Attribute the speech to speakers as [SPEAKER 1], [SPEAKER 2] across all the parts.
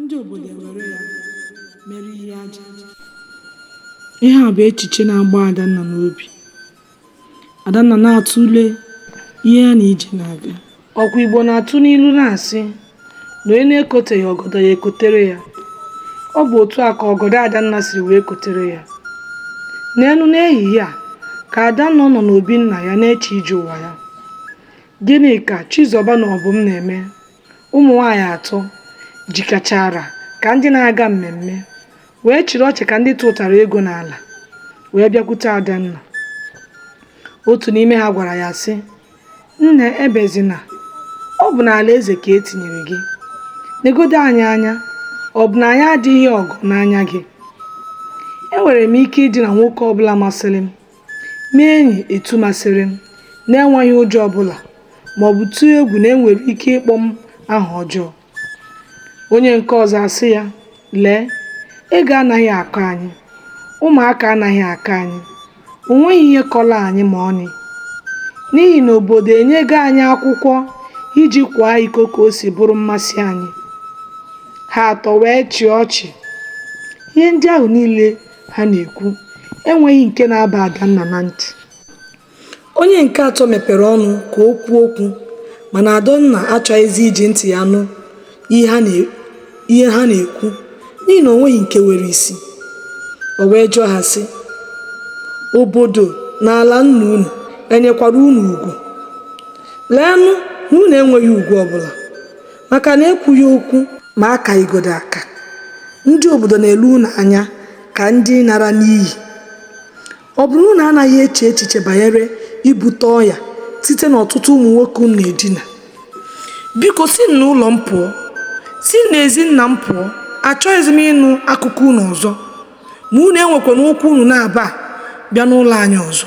[SPEAKER 1] ndị obodo ewere ya mere ihe aja ihe a bụ echiche na-agba adanna n'obi adanna na-atụle ihe ya na ije na-aga ọkwa igbo na-atụ n'ilu na-asị na onye na-ekoteghị ọgọdọ ya ekotere ya ọ bụ otu a ka ọgọdọ adanna siri wee kotere ya n'elu n'ehihie a ka adanna nọ n'obi nna ya na-eche ije ụwa ya gịnị ka chizọba na ọbụm na-eme Ụmụ nwaanyị atọ jikechara ka ndị na-aga mmemme wee chịrị ọchị ka ndị tụtara ego n'ala wee bịakwute Adanna. Otu n'ime ha gwara ya sị, Nne ebezina, ọ bụ n'ala eze ka e tinyere gị. Legodo anyị anya, ọ bụ na anyị adịghị ọgọ n'anya gị? Enwere m ike idina nwoke ọbụla masịrị m. Mee enyi etu masịrị m, n'enweghị ụjọ ọ bụla ma ọ bụ tụọ egwu na e nwere ike ịkpọ m aha ọjọọ. Onye nke ọzọ asị ya, Lee, ego anaghị akọ anyị, ụmụaka anaghị akọ anyị, o nweghị ihe kọrọ anyị ma ọlị, n'ihi na obodo enyego anyị akwụkwọ iji kwaa iko ka o si bụrụ mmasị anyị. Ha atọ wee chịa ọchị. Ihe ndị ahụ niile ha na-ekwu enweghị nke na-aba Adanna na ntị onye nke atọ mepere ọnụ ka o kwuo okwu mana Adanna achọghịzi iji ntị ya nụ ihe ha na-ekwu n'ihi na o nweghị nke nwere isi o wee jụọ ha sị obodo na ala nna unu enyekwara unu ugwu leenụ na unu enweghị ugwu ọbụla Maka na ekwughị okwu ma a kaghịgodị aka, ndị obodo na-ele unu anya ka ndị nara n'iyi. Ọ bụ na unu anaghị eche echiche banyere ibute ọya site n'ọtụtụ ụmụ nwoke unu na-edina? Biko, sinụ n'ụlọ m pụọ! Sinụ n'ezi nna m pụọ! Achọghịzi m ịnụ akụkọ unu ọzọ. Ma unu enwekwana ụkwụ unu naabọ abịa n'ụlọ anyị ọzọ.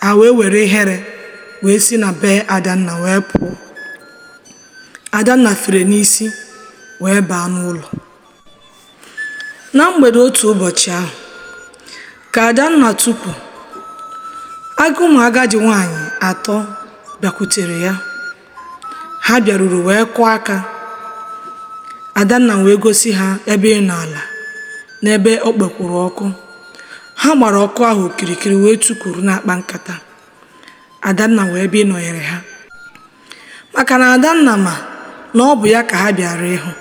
[SPEAKER 1] Ha wee were ihere wee si na be Adanna wee pụọ. Adanna fere n'isi wee baa n'ụlọ. Na mgbede otu ụbọchị ahụ, ka Adanna tukwu ala ụmụ agadi nwaanyị atọ bịakwutere ya. Ha bịaruru wee kụọ aka. Adanna wee gosi ha ebe ịnọ ala n'ebe o kpekwuru ọkụ. Ha gbara ọkụ ahụ okirikiri wee tukuru na-akpa nkata. Adanna wee bịa ịnọnyere ha. maka na Adanna ma na ọ bụ ya ka ha bịara ịhụ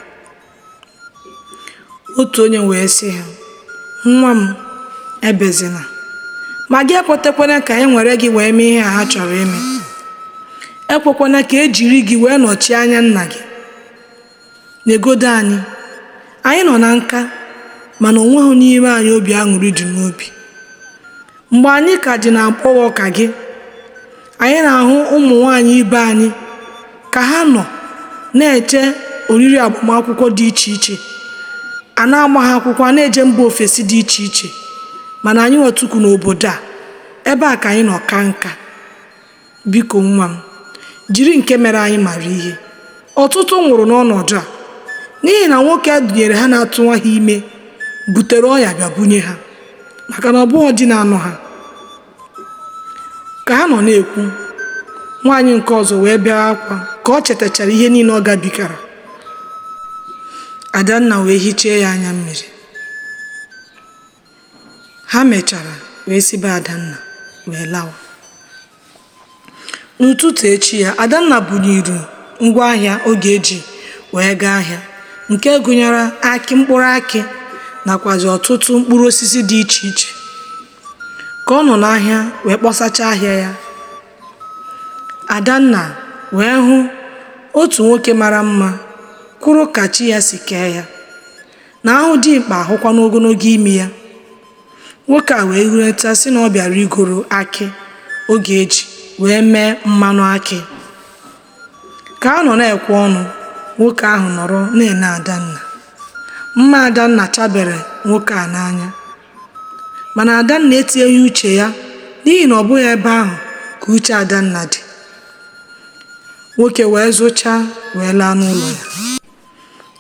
[SPEAKER 1] otu onye wee sị ha nwa m ebezina ma gị ekwetekwana ka e nwere gị wee mee ihe a ha chọrọ ime ekwekwana ka e jiri gị wee nọchie anya nna gị Legodị anyị. Anyị nọ na nka, mana o nweghị n'ime anyị obi aṅụrị dị n'obi. Mgbe anyị ka dị n'agbọghọ ka gị, anyị na-ahụ ụmụ nwaanyị ibe anyị ka ha nọ na-eche oriri agbamakwụkwọ dị iche iche, a na-agba ha akwụkwọ, a na-eje mba ofesi dị iche iche, mana anyị nwa tukwu n'obodo a, ebe a ka anyị nọ kaa nka. Biko, nwa m, jiri nke mere anyị mara ihe. Ọtụtụ nwụrụ n'ọnọdụ a n'ihi na nwoke a dunyere ha na-atụwa ha ime butere ọnya bịa bunye ha maka na ọ bụghị di na-anụ ha. Ka ha nọ na-ekwu, nwaanyị nke ọzọ wee bee akwa ka o chetachara ihe niile ọ gabigara. Adanna wee hichee ya anya mmiri. Ha mechara wee si be Adanna wee lawa. N'ụtụtụ echi ya, Adanna bunyiri ngwa ahịa ọ ga-eji wee gaa ahịa nke gụnyere akị mkpụrụ akị nakwazi ọtụtụ mkpụrụ osisi dị iche iche. Ka ọ nọ n'ahịa wee kpọsachaa ahịa ya, Adanna wee hụ otu nwoke mara mma kwụrụ ka chi ya si kee ya. na a hụ dimkpa a hụkwa n'ogologo imi ya nwoke a wee hureta sị na ọ bịara igoro akị ọ ga-eji wee mee mmanụ akị ka a nọ na-ekwe ọnụ nwoke ahụ nọrọ na-ene adanna mma adanna chabere nwoke a n'anya mana adanna etinyeghị uche ya n'ihi na ọ bụghị ebe ahụ ka uche adanna dị nwoke wee zụchaa wee laa n'ụlọ ya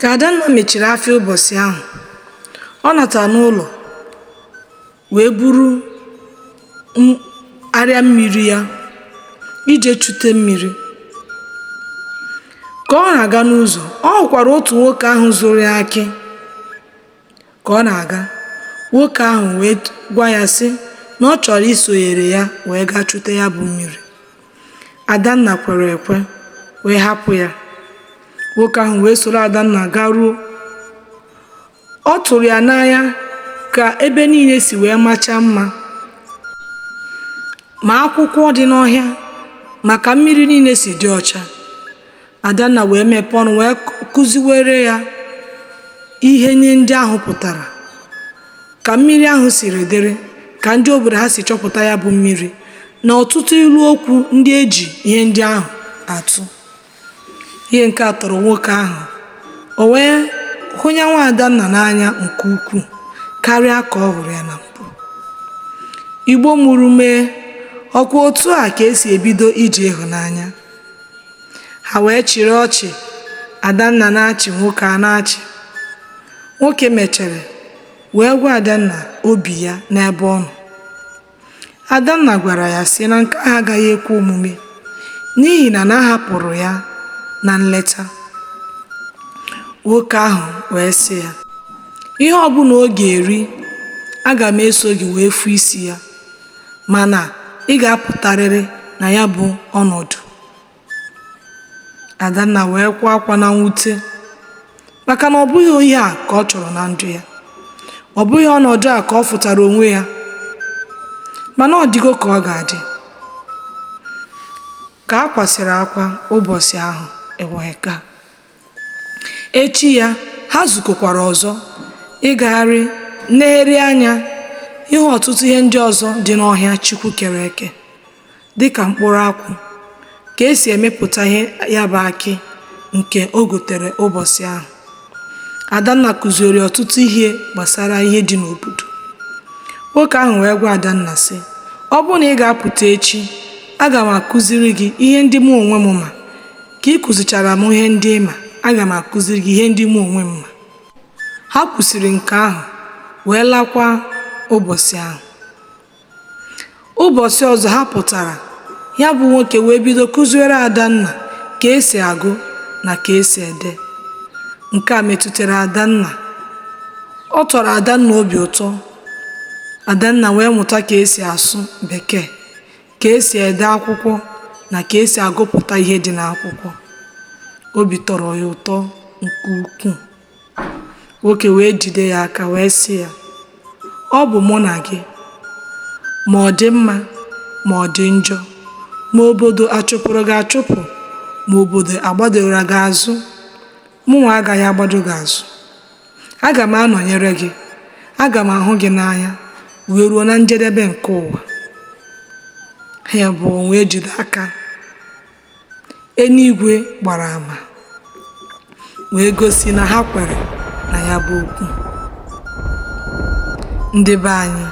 [SPEAKER 1] Ka Adanna mechiri afịa ụbọchị ahụ, ọ natara n'ụlọ wee buru m- arịa mmiri ya ije chute mmiri. Ka ọ na-aga n'ụzọ, ọ hụkwara otu nwoke ahụ zụrụ ya akị. Ka ọ na-aga, nwoke ahụ wee gwa ya sị na ọ chọrọ isonyere ya wee gaa chute ya bụ mmiri. Adanna kwere ekwe wee hapụ ya. Nwoke ahụ wee soro Adanna garuo. Ọ tụrụ ya n'anya ka ebe niile si wee machaa mma ma akwụkwọ dị n'ọhịa ma ka mmiri niile si dị ọcha. Adanna wee mepee ọnụ wee kụziwere ya ihe ihe ndị ahụ pụtara ka mmiri ahụ siri dịrị ka ndị obodo ha si chọpụta ya bụ mmiri na ọtụtụ ilu okwu ndị e ji ihe ndị ahụ atụ ihe nke a tọrọ nwoke ahụ o wee hụnye nwa adanna n'anya nke ukwuu karịa ka ọ hụrụ ya na mbụ igbo mụrụ m ee ọkwa otu a ka e si ebido ije ịhụnanya ha wee chịrị ọchị adanna na-achị nwoke a na-achị nwoke mechere wee gwa adanna obi ya n'ebe ọ nọ adanna gwara ya sị na nke ahụ agaghị ekwe omume n'ihi na a hapụrụ ya na nleta nwoke ahụ wee sị ya ihe ọbụla ọ ga-eri aga m eso gị wee fụ isi ya mana ị ga-apụtarịrị na ya bụ ọnọdụ. Adanna wee kwaa akwa na mwute maka na ọ bụghị ihe a ka ọ chọrọ na ndụ ya. Ọ bụghị ọnọdụ a ka ọ fụtara onwe ya mana ọ dịgo ka ọ ga-adị. Ka a kwasịrị akwa ụbọsị ahụ e wee gaa. Echi ya, ha zukọkwara ọzọ ịgagharị, nlegharị anya, ịhụ ọtụtụ ihe ndị ọzọ dị n'ọhịa Chukwu kere eke, dị ka mkpụrụ akwụ, ka e si emepụta ihe ya bụ akị nke o gotere ụbọsị ahụ. Adanna kụziiri ọtụtụ ihe gbasara ihe dị n'obodo. Nwoke ahụ wee gwa Adanna, sị, Ọ bụrụ na ị ga-apụta echi, aga m akụziri gị ihe ndị mụ onwe m ma. Ka ị kụzichara m ihe ndị ị ma, aga m akụziri gị ihe ndị mụ onwe m ma. Ha kwusịrị nke ahụ wee lakwa ụbọsị ahụ. Ụbọsị ọzọ ha pụtara, ya bụ nwoke wee bido kụziwere Adanna ka e si agụ na ka e si ede. Nke a metụtara Adanna. Ọ tọrọ Adanna obi ụtọ. Adanna wee mụta ka e si asụ Bekee. ka esi ede akwụkwọ na ka esi agụpụta ihe dị n'akwụkwọ obi tọrọ ya ụtọ nke ukwuu nwoke wee jide ya aka wee sị ya ọ bụ mụ na gị ma ọ dị mma ma ọ dị njọ ma obodo achụpụrụ gị achụpụ ma obodo agbadoro gị azụ Mụnwa agaghị agbado gị azụ. Aga m anọnyere gị. Aga m ahụ gị n'anya wee ruo na njedebe nke ụwa. Ha abụọ wee jide aka. Eluigwe gbara ama wee gosi na ha kwere na ya bụ okwu. Ndị be anyị,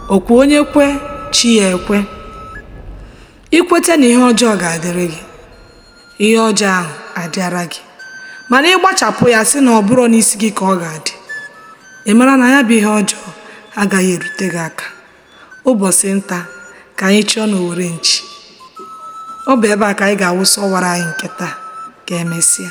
[SPEAKER 1] ọ kwa onye kwe chi ya ekwe. I kweta na ihe ọjọọ ga-adịrị gị ihe ọjọọ ahụ adịara gị mana ị gbachapụ ya sị na ọ bụrọ n'isi gị ka ọ ga-adị ị mara na ya bụ ihe ọjọọ agaghị erute gị aka ụbọsị nta ka anyị chụọ n'owere nchi ọ bụ ebe a ka anyị ga-awụsa ọwara anyị nke taa ka emesịa